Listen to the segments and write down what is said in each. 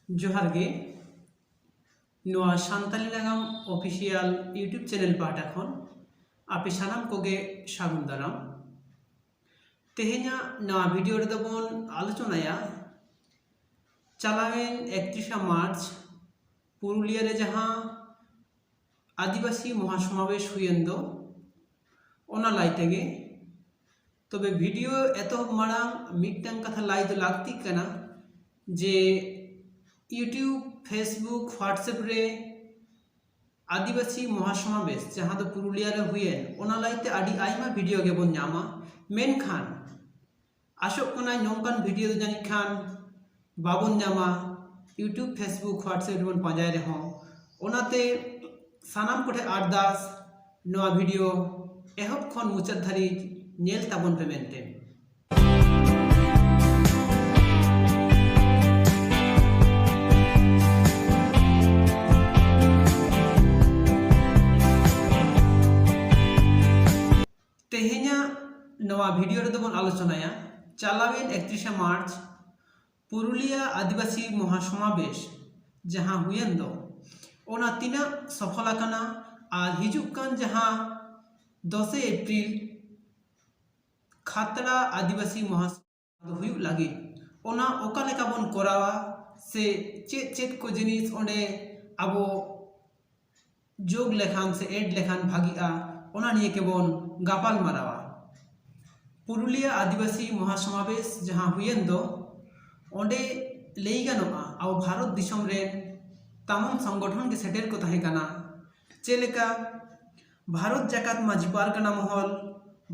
ᱡᱚᱦᱟᱨ ᱜᱮ ᱱᱚᱣᱟ ᱥᱟᱱᱛᱟᱞᱤ ᱱᱟᱜᱟᱢ ᱚᱯᱷᱤᱥᱤᱭᱟᱞ ᱤᱭᱩᱴᱩᱵᱽ ᱪᱮᱱᱮᱞ ᱯᱟᱦᱴᱟ ᱠᱷᱚᱱ ᱟᱯᱮ ᱥᱟᱱᱟᱢ ᱠᱚᱜᱮ ᱥᱟᱹᱜᱩᱱ ᱫᱟᱨᱟᱢ ᱛᱮᱦᱮᱧᱟᱜ ᱱᱚᱣᱟ ᱵᱷᱤᱰᱤᱭᱳ ᱨᱮᱫᱚ ᱵᱚᱱ ᱟᱞᱳᱪᱚᱱᱟᱭᱟ ᱪᱟᱞᱟᱣᱮᱱ ᱮᱠᱛᱨᱤᱥᱟ ᱢᱟᱨᱪ ᱯᱩᱨᱩᱞᱤᱭᱟᱹ ᱨᱮ ᱡᱟᱦᱟᱸ ᱟᱹᱫᱤᱵᱟᱹᱥᱤ ᱢᱚᱦᱟᱥᱚᱢᱟᱵᱮᱥ ᱦᱩᱭᱮᱱ ᱫᱚ ᱚᱱᱟ ᱞᱟᱭ ᱛᱮᱜᱮ ᱛᱚᱵᱮ ᱵᱷᱤᱰᱤᱭᱳ ᱮᱛᱚᱦᱚᱵ ᱢᱟᱲᱟᱝ ᱢᱤᱫᱴᱟᱝ ᱠᱟᱛᱷᱟ ᱞᱟᱭ ᱫᱚ ᱞᱟᱹᱠᱛᱤᱜ ᱠᱟᱱᱟ ᱡᱮ ᱤᱭᱩᱴᱤᱭᱩᱵᱽ ᱯᱷᱮᱥᱵᱩᱠ ᱦᱳᱣᱟᱴᱥᱮᱯ ᱨᱮ ᱟᱹᱫᱤᱵᱟᱹᱥᱤ ᱢᱚᱦᱟᱥᱚᱢᱟᱵᱮᱥ ᱡᱟᱦᱟᱸ ᱫᱚ ᱯᱩᱨᱩᱞᱤᱭᱟ ᱨᱮ ᱦᱩᱭᱮᱱ ᱚᱱᱟ ᱞᱟᱹᱭᱛᱮ ᱟᱹᱰᱤ ᱟᱭᱢᱟ ᱵᱷᱤᱰᱤᱭᱳ ᱜᱮᱵᱚᱱ ᱧᱟᱢᱟ ᱢᱮᱱᱠᱷᱟᱱ ᱟᱥᱚᱜ ᱠᱟᱱᱟᱧ ᱱᱚᱝᱠᱟᱱ ᱵᱷᱤᱰᱤᱭᱳ ᱫᱚ ᱡᱟᱹᱱᱤᱡ ᱠᱷᱟᱱ ᱵᱟᱵᱚᱱ ᱧᱟᱢᱟ ᱤᱭᱩᱴᱩᱵᱽ ᱯᱷᱮᱥᱵᱩᱠ ᱦᱳᱣᱟᱴᱥᱮᱯ ᱨᱮᱵᱚᱱ ᱯᱟᱸᱡᱟᱭ ᱨᱮᱦᱚᱸ ᱚᱱᱟᱛᱮ ᱥᱟᱱᱟᱢ ᱠᱚᱴᱷᱮᱱ ᱟᱨᱫᱟᱥ ᱱᱚᱣᱟ ᱵᱷᱤᱰᱤᱭᱳ ᱮᱦᱚᱵ ᱠᱷᱚᱱ ᱢᱩᱪᱟᱹᱫ ᱫᱷᱟᱹᱨᱤᱡ ᱧᱮᱞ ᱛᱟᱵᱚᱱ ᱯᱮ ᱢᱮᱱᱛᱮ ᱛᱮᱦᱮᱧᱟᱜ ᱱᱚᱣᱟ ᱵᱷᱤᱰᱤᱭᱳ ᱨᱮᱫᱚ ᱵᱚᱱ ᱟᱞᱳᱪᱚᱱᱟᱭᱟ ᱪᱟᱞᱟᱣᱮᱱ ᱮᱠᱛᱨᱤᱥᱟ ᱢᱟᱨᱪ ᱯᱩᱨᱩᱞᱤᱭᱟ ᱟᱹᱫᱤᱵᱟᱹᱥᱤ ᱢᱚᱦᱟ ᱥᱚᱢᱟᱵᱮᱥ ᱡᱟᱦᱟᱸ ᱦᱩᱭᱮᱱ ᱫᱚ ᱚᱱᱟ ᱛᱤᱱᱟᱹᱜ ᱥᱚᱯᱷᱚᱞ ᱟᱠᱟᱱᱟ ᱟᱨ ᱦᱤᱡᱩᱜ ᱠᱟᱱ ᱡᱟᱦᱟᱸ ᱫᱚᱥᱮ ᱮᱯᱨᱤᱞ ᱠᱷᱟᱛᱲᱟ ᱟᱹᱫᱤᱵᱟᱹᱥᱤ ᱢᱚᱦᱟ ᱦᱩᱭᱩᱜ ᱞᱟᱹᱜᱤᱫ ᱚᱱᱟ ᱚᱠᱟ ᱞᱮᱠᱟ ᱵᱚᱱ ᱠᱚᱨᱟᱣᱟ ᱥᱮ ᱪᱮᱫ ᱪᱮᱫ ᱠᱚ ᱡᱤᱱᱤᱥ ᱚᱸᱰᱮ ᱟᱵᱚ ᱡᱳᱜᱽ ᱞᱮᱠᱷᱟᱱ ᱥᱮ ᱮᱰ ᱞᱮᱠᱷᱟᱱ ᱵᱷᱟᱹᱜᱤᱜᱼᱟ ᱚᱱᱟ ᱱᱤᱭᱮ ᱛᱮᱵᱚᱱ ᱜᱟᱯᱟᱞ ᱢᱟᱨᱟᱣᱟ ᱯᱩᱨᱩᱞᱤᱭᱟᱹ ᱟᱹᱫᱤᱵᱟᱹᱥᱤ ᱢᱚᱦᱟ ᱥᱚᱢᱟᱵᱮᱥ ᱡᱟᱦᱟᱸ ᱦᱩᱭᱮᱱ ᱫᱚ ᱚᱸᱰᱮ ᱞᱟᱹᱭ ᱜᱟᱱᱚᱜᱼᱟ ᱟᱵᱚ ᱵᱷᱟᱨᱚᱛ ᱫᱤᱥᱚᱢ ᱨᱮ ᱛᱟᱭᱟᱱ ᱥᱚᱝᱜᱚᱴᱷᱚᱱ ᱜᱮ ᱥᱮᱴᱮᱨ ᱠᱚ ᱛᱟᱦᱮᱸ ᱠᱟᱱᱟ ᱪᱮᱫ ᱞᱮᱠᱟ ᱵᱷᱟᱨᱚᱛ ᱡᱟᱠᱟᱛ ᱢᱟᱹᱡᱷᱤ ᱯᱟᱨᱜᱟᱱᱟ ᱢᱚᱦᱚᱞ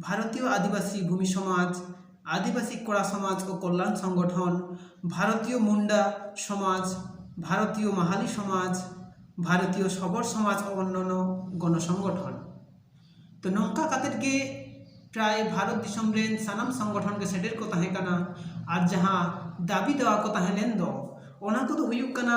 ᱵᱷᱟᱨᱚᱛᱤᱭᱚ ᱟᱹᱫᱤᱵᱟᱹᱥᱤ ᱵᱷᱩᱢᱤ ᱥᱚᱢᱟᱡᱽ ᱟᱹᱫᱤᱵᱟᱹᱥᱤ ᱠᱚᱲᱟ ᱥᱚᱢᱟᱡᱽ ᱠᱚ ᱠᱚᱞᱞᱟᱱ ᱥᱚᱝᱜᱚᱴᱷᱚᱱ ᱵᱷᱟᱨᱚᱛᱤᱭᱚ ᱢᱩᱱᱰᱟ ᱥᱚᱢᱟᱡᱽ ᱵᱷᱟᱨᱚᱛᱤᱭᱚ ᱢᱟᱦᱟᱞᱤ ᱥᱚᱢᱟᱡᱽ ᱵᱷᱟᱨᱚᱛᱤᱭᱚ ᱥᱚᱵᱚᱨ ᱥᱚᱢᱟᱡᱽ ᱚᱱᱱᱚᱱᱚ ᱜᱚᱱᱚ ᱥᱚᱝᱜᱚᱴᱷᱚᱱ ᱛᱚ ᱱᱚᱝᱠᱟ ᱠᱟᱛᱮ ᱜᱮ ᱯᱨᱟᱭ ᱵᱷᱟᱨᱚᱛ ᱫᱤᱥᱚᱢ ᱨᱮᱱ ᱥᱟᱱᱟᱢ ᱥᱚᱝᱜᱚᱴᱷᱚᱱ ᱜᱮ ᱥᱮᱴᱮᱨ ᱠᱚ ᱛᱟᱦᱮᱸ ᱠᱟᱱᱟ ᱟᱨ ᱡᱟᱦᱟᱸ ᱫᱟᱹᱵᱤ ᱫᱮᱣᱟ ᱠᱚ ᱛᱟᱦᱮᱸ ᱞᱮᱱ ᱫᱚ ᱚᱱᱟ ᱠᱚᱫᱚ ᱦᱩᱭᱩᱜ ᱠᱟᱱᱟ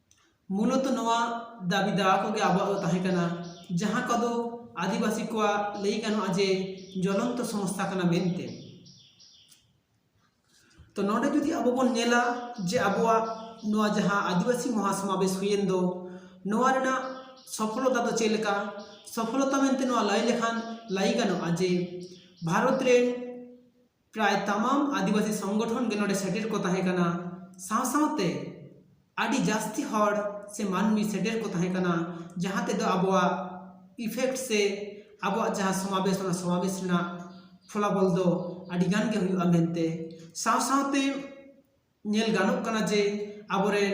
ᱢᱩᱞᱚᱛᱚ ᱱᱚᱣᱟ ᱫᱟᱹᱵᱤ ᱫᱟᱣᱟ ᱠᱚᱜᱮ ᱟᱵᱚᱣᱟᱜ ᱫᱚ ᱛᱟᱦᱮᱸ ᱠᱟᱱᱟ ᱡᱟᱦᱟᱸ ᱠᱚᱫᱚ ᱟᱹᱫᱤᱵᱟᱹᱥᱤ ᱠᱚᱣᱟᱜ ᱞᱟᱹᱭ ᱜᱟᱱᱚᱜᱼᱟ ᱡᱮ ᱡᱚᱞᱚᱱᱛᱚ ᱥᱚᱢᱚᱥᱥᱟ ᱠᱟᱱᱟ ᱢᱮᱱᱛᱮ ᱛᱚ ᱱᱚᱰᱮ ᱡᱩᱫᱤ ᱟᱵᱚ ᱵᱚᱱ ᱧᱮᱞᱟ ᱡᱮ ᱟᱵᱚᱣᱟᱜ ᱱᱚᱣᱟ ᱡᱟᱦᱟᱸ ᱟᱹᱫᱤᱵᱟᱹᱥᱤ ᱢᱚᱦᱟ ᱥᱚᱢᱟᱵᱮᱥ ᱦᱩᱭᱮᱱ ᱫᱚ ᱱᱚᱣᱟ ᱨᱮᱱᱟᱜ ᱥᱚᱯᱷᱚᱞᱚᱛᱟ ᱫᱚ ᱪᱮᱫ ᱞᱮᱠᱟ ᱥᱚᱯᱷᱚᱞᱚᱛᱟ ᱢᱮᱱᱛᱮ ᱱᱚᱣᱟ ᱞᱟᱹᱭ ᱞᱮᱠᱷᱟᱱ ᱞᱟᱹᱭ ᱜᱟᱱᱚᱜᱼᱟ ᱡᱮ ᱵᱷᱟᱨᱚᱛ ᱨᱮ ᱯᱨᱟᱭ ᱛᱟᱢᱟᱢ ᱟᱹᱫᱤᱵᱟᱹᱥᱤ ᱥᱚᱝᱜᱚᱴᱷᱚᱱ ᱜᱮ ᱱᱚᱰᱮ ᱥᱮᱴᱮᱨ ᱠᱚ ᱛᱟᱦᱮᱸ ᱠᱟᱱᱟ ᱥᱟᱶ ᱥᱟᱶᱛᱮ ᱟᱹᱰᱤ ᱡᱟᱹᱥᱛᱤ ᱦᱚᱲ ᱥᱮ ᱢᱟᱹᱱᱢᱤ ᱥᱮᱴᱮᱨ ᱠᱚ ᱛᱟᱦᱮᱸ ᱠᱟᱱᱟ ᱡᱟᱦᱟᱸ ᱛᱮᱫᱚ ᱟᱵᱚᱣᱟᱜ ᱤᱯᱷᱮᱠᱴ ᱥᱮ ᱟᱵᱚᱣᱟᱜ ᱡᱟᱦᱟᱸ ᱥᱚᱢᱟᱵᱮᱥ ᱚᱱᱟ ᱥᱚᱢᱟᱵᱮᱥ ᱨᱮᱱᱟᱜ ᱯᱷᱚᱞᱟᱯᱷᱚᱞ ᱫᱚ ᱟᱹᱰᱤ ᱜᱟᱱ ᱜᱮ ᱦᱩᱭᱩᱜᱼᱟ ᱢᱮᱱᱛᱮ ᱥᱟᱶ ᱥᱟᱶᱛᱮ ᱧᱮᱞ ᱜᱟᱱᱚᱜ ᱠᱟᱱᱟ ᱡᱮ ᱟᱵᱚᱨᱮᱱ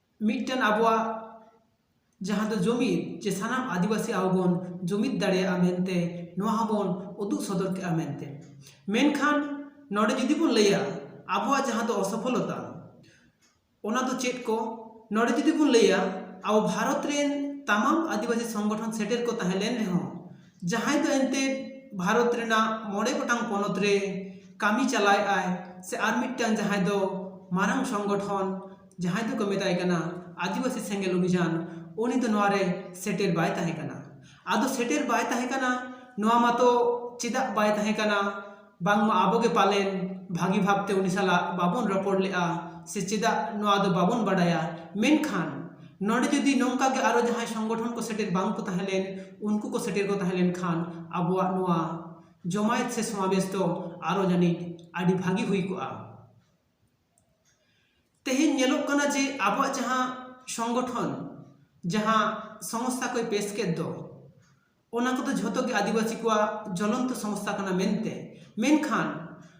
ᱢᱤᱫᱴᱮᱱ ᱟᱵᱚᱣᱟᱜ ᱡᱟᱦᱟᱸ ᱫᱚ ᱡᱩᱢᱤᱫ ᱡᱮ ᱥᱟᱱᱟᱢ ᱟᱹᱫᱤᱵᱟᱹᱥᱤ ᱟᱵᱚ ᱵᱚᱱ ᱡᱩᱢᱤᱫ ᱫᱟᱲᱮᱭᱟᱜᱼᱟ ᱢᱮᱱᱛᱮ ᱱᱚᱣᱟ ᱦᱚᱸᱵᱚᱱ ᱩᱫᱩᱜ ᱥᱚᱫᱚᱨ ᱠᱮᱫᱼᱟ ᱢᱮᱱᱛᱮ ᱢᱮᱱᱠᱷᱟᱱ ᱱᱚᱰᱮ ᱡᱩᱫᱤ ᱵᱚᱱ ᱞᱟᱹᱭᱟ ᱟᱵᱚᱣᱟᱜ ᱡᱟᱦᱟᱸ ᱫᱚ ᱚᱥᱚᱯᱷᱚᱞᱚᱛᱟ ᱚᱱᱟ ᱫᱚ ᱪᱮᱫ ᱠᱚ ᱱᱚᱰᱮ ᱡᱩᱫᱤ ᱵᱚᱱ ᱞᱟᱹᱭᱟ ᱟᱵᱚ ᱵᱷᱟᱨᱚᱛ ᱨᱮᱱ ᱛᱟᱢᱟᱢ ᱟᱹᱫᱤᱵᱟᱹᱥᱤ ᱥᱚᱝᱜᱚᱴᱷᱚᱱ ᱥᱮᱴᱮᱨ ᱠᱚ ᱛᱟᱦᱮᱸ ᱞᱮᱱ ᱨᱮᱦᱚᱸ ᱡᱟᱦᱟᱸᱭ ᱫᱚ ᱮᱱᱛᱮᱫ ᱵᱷᱟᱨᱚᱛ ᱨᱮᱱᱟᱜ ᱢᱚᱬᱮ ᱜᱚᱴᱟᱝ ᱯᱚᱱᱚᱛ ᱨᱮ ᱠᱟᱹᱢᱤ ᱪᱟᱞᱟᱣᱮᱫ ᱟᱭ ᱥᱮ ᱟᱨ ᱢᱤᱫᱴᱟᱝ ᱡᱟᱦᱟᱸᱭ ᱫᱚ ᱢᱟᱨᱟᱝ ᱥᱚᱝᱜᱚᱴᱷᱚᱱ ᱡᱟᱦᱟᱸᱭ ᱫᱚᱠᱚ ᱢᱮᱛᱟᱭ ᱠᱟᱱᱟ ᱟᱹᱫᱤᱵᱟᱹᱥᱤ ᱥᱮᱸᱜᱮᱞ ᱚᱵᱷᱤᱡᱟᱱ ᱩᱱᱤ ᱫᱚ ᱱᱚᱣᱟᱨᱮ ᱥᱮᱴᱮᱨ ᱵᱟᱭ ᱛᱟᱦᱮᱸ ᱠᱟᱱᱟ ᱟᱫᱚ ᱥᱮᱴᱮᱨ ᱵᱟᱭ ᱛᱟᱦᱮᱸ ᱠᱟᱱᱟ ᱱᱚᱣᱟ ᱢᱟᱛᱚ ᱪᱮᱫᱟᱜ ᱵᱟᱭ ᱛᱟᱦᱮᱸ ᱠᱟᱱᱟ ᱵᱟᱝᱢᱟ ᱟᱵᱚ ᱜᱮ ᱯᱟᱞᱮᱱ ᱵᱷᱟᱹᱜᱤ ᱵᱷᱟᱵᱽ ᱛᱮ ᱩᱱᱤ ᱥᱟᱞᱟᱜ ᱵᱟᱵᱚᱱ ᱨᱚᱯᱚᱲ ᱞᱮᱫᱼᱟ ᱥᱮ ᱪᱮᱫᱟᱜ ᱱᱚᱣᱟ ᱫᱚ ᱵᱟᱵᱚᱱ ᱵᱟᱰᱟᱭᱟ ᱢᱮᱱᱠᱷᱟᱱ ᱱᱚᱰᱮ ᱡᱩᱫᱤ ᱱᱚᱝᱠᱟ ᱜᱮ ᱟᱨᱚ ᱡᱟᱦᱟᱸᱭ ᱥᱚᱝᱜᱚᱴᱷᱚᱱ ᱠᱚ ᱥᱮᱴᱮᱨ ᱵᱟᱝ ᱠᱚ ᱛᱟᱦᱮᱸ ᱞᱮᱱ ᱩᱱᱠᱩ ᱠᱚ ᱥᱮᱴᱮᱨ ᱠᱚ ᱛᱟᱦᱮᱸ ᱞᱮᱱᱠᱷᱟᱱ ᱟᱵᱚᱣᱟᱜ ᱱᱚᱣᱟ ᱡᱚᱢᱟᱭᱮᱛ ᱥᱮ ᱥᱚᱢᱟᱵᱮᱥ ᱫᱚ ᱟᱨᱚ ᱡᱟᱹᱱᱤᱡ ᱟᱹᱰᱤ ᱵᱷᱟᱹᱜᱤ ᱦᱩᱭ ᱠᱚᱜᱼᱟ ᱛᱮᱦᱮᱧ ᱧᱮᱞᱚᱜ ᱠᱟᱱᱟ ᱡᱮ ᱟᱵᱚᱣᱟᱜ ᱡᱟᱦᱟᱸ ᱥᱚᱝᱜᱚᱴᱷᱚᱱ ᱡᱟᱦᱟᱸ ᱥᱚᱝᱥᱛᱷᱟ ᱠᱚᱭ ᱯᱮᱥ ᱠᱮᱫ ᱫᱚ ᱚᱱᱟ ᱠᱚᱫᱚ ᱡᱷᱚᱛᱚ ᱜᱮ ᱟᱹᱫᱤᱵᱟᱹᱥᱤ ᱠᱚᱣᱟᱜ ᱡᱚᱞᱚᱱᱛᱚ ᱥᱚᱢᱚᱥᱥᱟ ᱠᱟᱱᱟ ᱢᱮᱱᱛᱮ ᱢᱮᱱᱠᱷᱟᱱ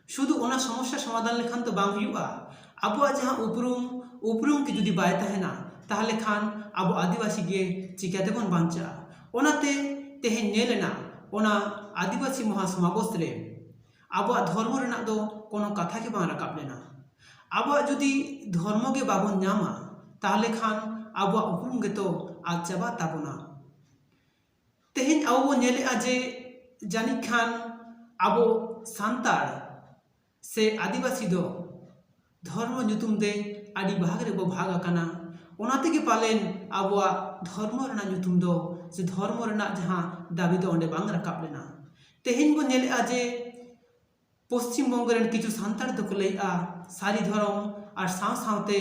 ᱥᱩᱫᱩ ᱚᱱᱟ ᱥᱚᱢᱚᱥᱥᱟ ᱥᱚᱢᱟᱫᱷᱟᱱ ᱞᱮᱠᱷᱟᱱ ᱫᱚ ᱵᱟᱝ ᱦᱩᱭᱩᱜᱼᱟ ᱟᱵᱚᱣᱟᱜ ᱡᱟᱦᱟᱸ ᱩᱯᱨᱩᱢ ᱩᱯᱨᱩᱢ ᱜᱮ ᱡᱩᱫᱤ ᱵᱟᱭ ᱛᱟᱦᱮᱱᱟ ᱛᱟᱦᱚᱞᱮ ᱠᱷᱟᱱ ᱟᱵᱚ ᱟᱹᱫᱤᱵᱟᱹᱥᱤ ᱜᱮ ᱪᱤᱠᱟᱹ ᱛᱮᱵᱚᱱ ᱵᱟᱧᱪᱟᱜᱼᱟ ᱚᱱᱟᱛᱮ ᱛᱮᱦᱮᱧ ᱧᱮᱞ ᱮᱱᱟ ᱚᱱᱟ ᱟᱹᱫᱤᱵᱟᱹᱥᱤ ᱢᱚᱦᱟ ᱥᱚᱢᱟᱵᱚᱥ ᱨᱮ ᱟᱵᱚᱣᱟᱜ ᱫᱷᱚᱨᱢᱚ ᱨᱮᱱᱟᱜ ᱫᱚ ᱠᱳᱱᱳ ᱠᱟᱛᱷᱟ ᱜᱮ ᱵᱟᱝ ᱨᱟᱠᱟᱵ ᱞᱮᱱᱟ ᱟᱵᱚᱣᱟᱜ ᱡᱩᱫᱤ ᱫᱷᱚᱨᱢᱚ ᱜᱮ ᱵᱟᱵᱚᱱ ᱧᱟᱢᱟ ᱛᱟᱦᱚᱞᱮ ᱠᱷᱟᱱ ᱟᱵᱚᱣᱟᱜ ᱩᱯᱨᱩᱢ ᱜᱮᱛᱚ ᱟᱫ ᱪᱟᱵᱟᱜ ᱛᱟᱵᱚᱱᱟ ᱛᱮᱦᱮᱧ ᱟᱵᱚ ᱵᱚᱱ ᱧᱮᱞᱮᱫᱼᱟ ᱡᱮ ᱡᱟᱹᱱᱤᱡ ᱠᱷᱟᱱ ᱟᱵᱚ ᱥᱟᱱᱛᱟᱲ ᱥᱮ ᱟᱹᱫᱤᱵᱟᱹᱥᱤ ᱫᱚ ᱫᱷᱚᱨᱢᱚ ᱧᱩᱛᱩᱢ ᱛᱮ ᱟᱹᱰᱤ ᱵᱷᱟᱜᱽ ᱨᱮᱵᱚ ᱵᱷᱟᱜᱽ ᱟᱠᱟᱱᱟ ᱚᱱᱟ ᱛᱮᱜᱮ ᱯᱟᱞᱮᱱ ᱟᱵᱚᱣᱟᱜ ᱫᱷᱚᱨᱢᱚ ᱨᱮᱱᱟᱜ ᱧᱩᱛᱩᱢ ᱫᱚ ᱥᱮ ᱫᱷᱚᱨᱢᱚ ᱨᱮᱱᱟᱜ ᱡᱟᱦᱟᱸ ᱫᱟᱹᱵᱤ ᱫᱚ ᱚᱸᱰᱮ ᱵᱟᱝ ᱨᱟᱠᱟᱵ ᱞᱮᱱᱟ ᱛᱮᱦᱮᱧ ᱵᱚᱱ ᱧᱮᱞᱮᱫᱼᱟ ᱡᱮ ᱯᱚᱥᱪᱤᱢ ᱵᱚᱝᱜᱚ ᱨᱮᱱ ᱠᱤᱪᱷᱩ ᱥᱟᱱᱛᱟᱲ ᱫᱚᱠᱚ ᱞᱟᱹᱭᱮᱜᱼᱟ ᱥᱟᱹᱨᱤ ᱫᱷᱚᱨᱚᱢ ᱟᱨ ᱥᱟᱶ ᱥᱟᱶᱛᱮ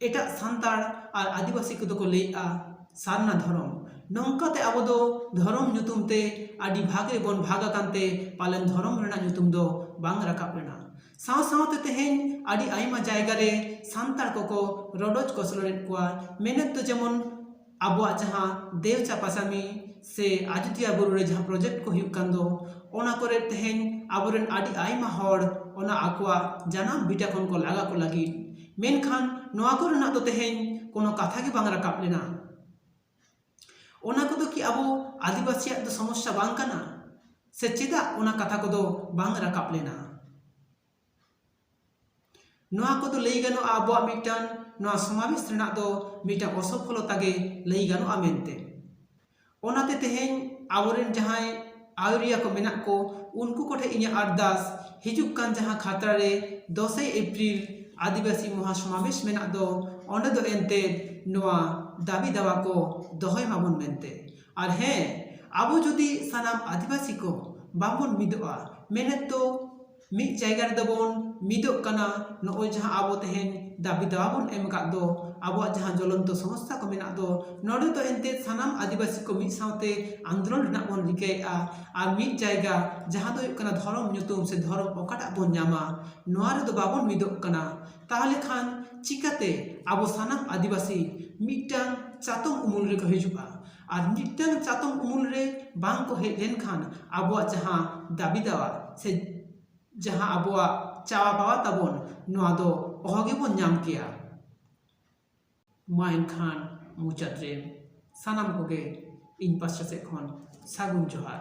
ᱮᱴᱟᱜ ᱥᱟᱱᱛᱟᱲ ᱟᱨ ᱟᱹᱫᱤᱵᱟᱹᱥᱤ ᱠᱚᱫᱚ ᱠᱚ ᱞᱟᱹᱭᱮᱜᱼᱟ ᱥᱟᱨᱱᱟ ᱫᱷᱚᱨᱚᱢ ᱱᱚᱝᱠᱟ ᱛᱮ ᱟᱵᱚ ᱫᱚ ᱫᱷᱚᱨᱚᱢ ᱧᱩᱛᱩᱢ ᱛᱮ ᱟᱹᱰᱤ ᱵᱷᱟᱜᱽ ᱨᱮᱵᱚᱱ ᱵᱷᱟᱜᱽ ᱟᱠᱟᱱ ᱛᱮ ᱯᱟᱞᱮᱱ ᱫᱷᱚᱨᱚᱢ ᱨᱮᱱᱟᱜ ᱧᱩᱛᱩᱢ ᱫᱚ ᱵᱟᱝ ᱨᱟᱠᱟᱵ ᱞᱮᱱᱟ ᱥᱟᱶ ᱥᱟᱶᱛᱮ ᱛᱮᱦᱮᱧ ᱟᱹᱰᱤ ᱟᱭᱢᱟ ᱡᱟᱭᱜᱟ ᱨᱮ ᱥᱟᱱᱛᱟᱲ ᱠᱚᱠᱚ ᱨᱚᱰᱚᱡ ᱠᱚᱪᱞᱚᱱ ᱮᱜ ᱠᱚᱣᱟ ᱢᱮᱱᱮᱛ ᱫᱚ ᱡᱮᱢᱚᱱ ᱟᱵᱚᱣᱟᱜ ᱡᱟᱦᱟᱸ ᱫᱮᱣ ᱪᱟᱸᱯᱟ ᱪᱟᱸᱫᱤ ᱥᱮ ᱟᱡᱳᱫᱤᱭᱟᱹ ᱵᱩᱨᱩ ᱨᱮ ᱡᱟᱦᱟᱸ ᱯᱨᱚᱡᱮᱠᱴ ᱠᱚ ᱦᱩᱭᱩᱜ ᱠᱟᱱ ᱫᱚ ᱚᱱᱟ ᱠᱚᱨᱮ ᱛᱮᱦᱮᱧ ᱟᱵᱚ ᱨᱮᱱ ᱟᱹᱰᱤ ᱟᱭᱢᱟ ᱦᱚᱲ ᱚᱱᱟ ᱟᱠᱚᱣᱟᱜ ᱡᱟᱱᱟᱢ ᱵᱷᱤᱴᱟᱹ ᱠᱷᱚᱱ ᱠᱚ ᱞᱟᱜᱟ ᱠᱚ ᱞᱟᱹᱜᱤᱫ ᱢᱮᱱᱠᱷᱟᱱ ᱱᱚᱣᱟ ᱠᱚᱨᱮᱱᱟᱜ ᱫᱚ ᱛᱮᱦᱮᱧ ᱠᱳᱱᱳ ᱠᱟᱛᱷᱟ ᱜᱮ ᱵᱟᱝ ᱨᱟᱠᱟᱵ ᱞᱮᱱᱟ ᱚᱱᱟ ᱠᱚᱫᱚ ᱠᱤ ᱟᱵᱚ ᱟᱹᱫᱤᱵᱟᱹᱥᱤᱭᱟᱜ ᱫᱚ ᱥᱚᱢᱚᱥᱥᱟ ᱵᱟᱝ ᱠᱟᱱᱟ ᱥᱮ ᱪᱮᱫᱟᱜ ᱚᱱᱟ ᱠᱟᱛᱷᱟ ᱠᱚᱫᱚ ᱵᱟᱝ ᱨᱟᱠᱟᱵ ᱞᱮᱱᱟ ᱱᱚᱣᱟ ᱠᱚᱫᱚ ᱞᱟᱹᱭ ᱜᱟᱱᱚᱜᱼᱟ ᱟᱵᱚᱣᱟᱜ ᱢᱤᱫᱴᱟᱝ ᱱᱚᱣᱟ ᱥᱚᱢᱟᱵᱮᱥ ᱨᱮᱱᱟᱜ ᱫᱚ ᱢᱤᱫᱴᱟᱝ ᱚᱥᱚᱯᱷᱚᱞᱚᱛᱟ ᱜᱮ ᱞᱟᱹᱭ ᱜᱟᱱᱚᱜᱼᱟ ᱢᱮᱱᱛᱮ ᱚᱱᱟᱛᱮ ᱛᱮᱦᱮᱧ ᱟᱵᱚᱨᱮᱱ ᱡᱟᱦᱟᱸᱭ ᱟᱹᱭᱩᱨᱤᱭᱟᱹ ᱠᱚ ᱢᱮᱱᱟᱜ ᱠᱚ ᱩᱱᱠᱩ ᱠᱚᱴᱷᱮᱱ ᱤᱧᱟᱹᱜ ᱟᱨᱫᱟᱥ ᱦᱤᱡᱩᱜ ᱠᱟᱱ ᱡᱟᱦᱟᱸ ᱠᱷᱟᱛᱲᱟ ᱨᱮ ᱫᱚᱥᱮᱭ ᱮᱯᱨᱤᱞ ᱟᱹᱫᱤᱵᱟᱹᱥᱤ ᱢᱚᱦᱟ ᱥᱚᱢᱟᱵᱮᱥ ᱢᱮᱱᱟᱜ ᱫᱚ ᱚᱸᱰᱮ ᱫᱚ ᱮᱱᱛᱮ ᱱᱚᱣᱟ ᱫᱟᱹᱵᱤ ᱫᱟᱵᱟ ᱠᱚ ᱫᱚᱦᱚᱭ ᱢᱟᱵᱚᱱ ᱢᱮᱱᱛᱮ ᱟᱨ ᱦᱮᱸ ᱟᱵᱚ ᱡᱩᱫᱤ ᱥᱟᱱᱟᱢ ᱟᱹᱫᱤᱵᱟᱹᱥᱤ ᱠᱚ ᱵᱟᱵᱚᱱ ᱢᱤᱫᱚᱜᱼᱟ ᱢᱮᱱᱮᱛ ᱫᱚ ᱢᱤᱫ ᱡᱟᱭᱜᱟ ᱨᱮᱫᱚ ᱵᱚᱱ ᱢᱤᱫᱚᱜ ᱠᱟᱱᱟ ᱱᱚᱜᱼᱚᱭ ᱡᱟᱦᱟᱸ ᱟᱵᱚ ᱛᱮᱦᱮᱧ ᱫᱟᱹᱵᱤ ᱫᱟᱵᱟ ᱵᱚᱱ ᱮᱢ ᱟᱠᱟᱫ ᱫᱚ ᱟᱵᱚᱣᱟᱜ ᱡᱟᱦᱟᱸ ᱡᱚᱞᱚᱱᱛᱚ ᱥᱚᱢᱚᱥᱥᱟ ᱠᱚ ᱢᱮᱱᱟᱜ ᱫᱚ ᱱᱚᱰᱮ ᱫᱚ ᱮᱱᱛᱮᱜ ᱥᱟᱱᱟᱢ ᱟᱹᱫᱤᱵᱟᱹᱥᱤ ᱠᱚ ᱢᱤᱫ ᱥᱟᱶᱛᱮ ᱟᱱᱫᱳᱞᱚᱱ ᱨᱮᱱᱟᱜ ᱵᱚᱱ ᱨᱤᱠᱟᱹᱭᱮᱜᱼᱟ ᱟᱨ ᱢᱤᱫ ᱡᱟᱭᱜᱟ ᱡᱟᱦᱟᱸ ᱫᱚ ᱦᱩᱭᱩᱜ ᱠᱟᱱᱟ ᱫᱷᱚᱨᱚᱢ ᱧᱩᱛᱩᱢ ᱥᱮ ᱫᱷᱚᱨᱚᱢ ᱚᱠᱟᱴᱟᱜ ᱵᱚᱱ ᱧᱟᱢᱟ ᱱᱚᱣᱟ ᱨᱮᱫᱚ ᱵᱟᱵᱚᱱ ᱢᱤᱫᱚᱜ ᱠᱟᱱᱟ ᱛᱟᱦᱚᱞᱮ ᱠᱷᱟᱱ ᱪᱤᱠᱟᱹᱛᱮ ᱟᱵᱚ ᱥᱟᱱᱟᱢ ᱟᱹᱫᱤᱵᱟᱹᱥᱤ ᱢᱤᱫᱴᱟᱝ ᱪᱟᱛᱚᱢ ᱩᱢᱩᱞ ᱨᱮᱠᱚ ᱦᱤᱡᱩᱜᱼᱟ ᱟᱨ ᱢᱤᱫᱴᱟᱝ ᱪᱟᱛᱚᱢ ᱩᱢᱩᱞ ᱨᱮ ᱵᱟᱝ ᱠᱚ ᱦᱮᱡ ᱞᱮᱱᱠᱷᱟᱱ ᱟᱵᱚᱣᱟᱜ ᱡᱟᱦᱟᱸ ᱫᱟᱹᱵᱤ ᱫᱟᱣᱟ ᱥᱮ ᱡᱟᱦᱟᱸ ᱟᱵᱚᱣᱟᱜ ᱪᱟᱣᱟ ᱯᱟᱣᱟ ᱛᱟᱵᱚᱱ ᱱᱚᱣᱟ ᱫᱚ ᱚᱦᱚ ᱜᱮᱵᱚᱱ ᱧᱟᱢ ᱠᱮᱭᱟ ᱢᱟ ᱮᱱᱠᱷᱟᱱ ᱢᱩᱪᱟᱹᱫ ᱨᱮ ᱥᱟᱱᱟᱢ ᱠᱚᱜᱮ ᱤᱧ ᱯᱟᱥᱴᱟ ᱥᱮᱫ ᱠᱷᱚᱱ ᱥᱟᱹᱜᱩᱱ ᱡᱚᱦᱟᱨ